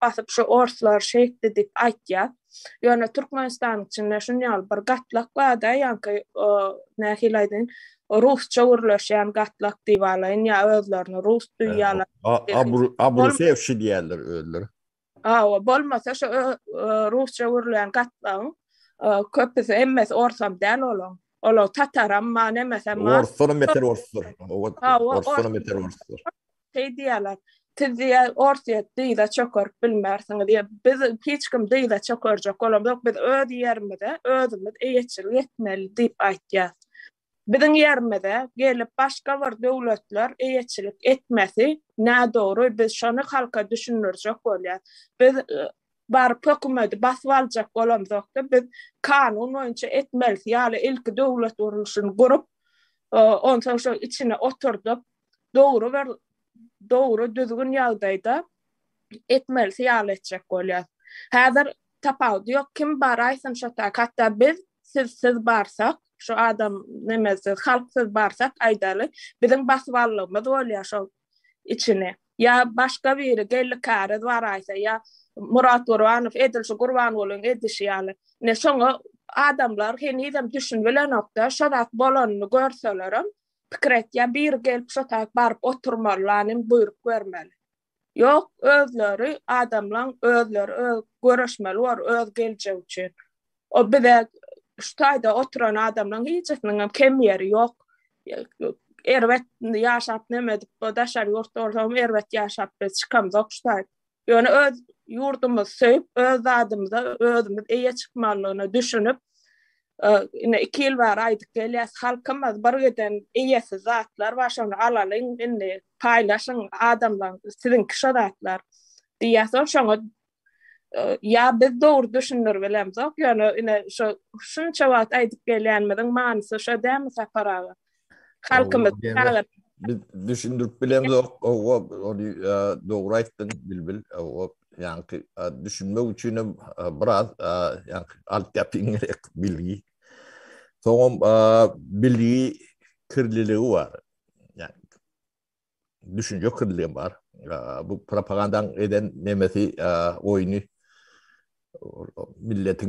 basyp şu orslar şeýtdi diýip aýtýar. Ýöne Türkmenistanyň içinde şun ýaly bir gatlak barda ýaňky nähili aýdaýyn rusça gürleşýän gatlak diýip alaýyn ýa özlerini rus duýýarlar. Abrusewşi diýýärler özleri. Hawa, bolmasa şu rusça gürleýän gatlagyň köpüsi hemmesi orsam däl olaň. Olar tataram, ma nemesem ma. Orslar beter orslar. Orslar beter orslar. Şeý diýýärler, Siz diýýär, Orsýet dyza çökerip bilmersiňiz diýýär. Biz hiç kim dyza çökerjek bolamyz ýok. Biz öz ýerimize özümiz eýeçilik etmeli diýip aýtýas. Biziň ýerimize gelip başga bir döwletler eýeçilik etmesi nädogry. Biz şony halka düşündirjek bolýas. Biz baryp hökümedi basyp aljak bolamzok-da, biz kanun boýunça etmelisi ýaly ilki döwlet gurluşyny gurup, onsoň şol içine oturdyp, dogry bir dogry düzgün ýagdaýda etmelisi ýaly etjek bolýar. Häzir tapawudy ýok. Kim bar aýtsyn şo tak. Hatda biz siz siz barsak, şu adam nemesiz, halk siz barsak aýdaly, biziň basywallygymyz bolýar şo içini. Ýa başga biri geldi käriz bar aýtsa, ýa Murat Gurbanow edil şu Gurbangulyň edişi ýaly. Ne şoňa adamlar henizem düşünbilenokda, şo zat bolanyny görselerem, Pikir et, ýa biri gelip şo tarap baryp oturmaly, lanin buýruk bermeli. Ýok, özleri, adamlaň özleri öz göreşmeli bor öz geljegi üçin. O bize şu taýda oturan adamlaň hijisiniň hem kem ýeri ýok. Erbet ýaşap neme edip, daşary ýurtda bolsam erbet ýaşap biz çykamzok şu taýda. Ýöne öz ýurdumyzy söýüp, öz zadymyza özümiz eýe çykmalygyna düşünip, ine iki ýyl bäri aýdyp gelýäs, halkymyz bir giden eýesiz zatlar bar, şony alalyň, indi paýlaşyň adamlaň, siziňki şo zatlar diýýärsoň, şoňa ýa biz dogry düşündir bilemzok, ýöne ine şo şunça wagt aýdyp gelýänimiziň manysy şo dälmi Sapar aga? Halkymyz çagyryp biz düşündirip bilemzok. Owa, ony dogry aýtdyň Bilbil. Owa, ýaňky düşünmek üçin hem biraz ýaňky alyp ýapyň gerek bilgi. Soňam bilgi kirliligi bar. Ýaňky düşünje kirliligi bar. Bu propagandaň eden nemesi oýny milletiň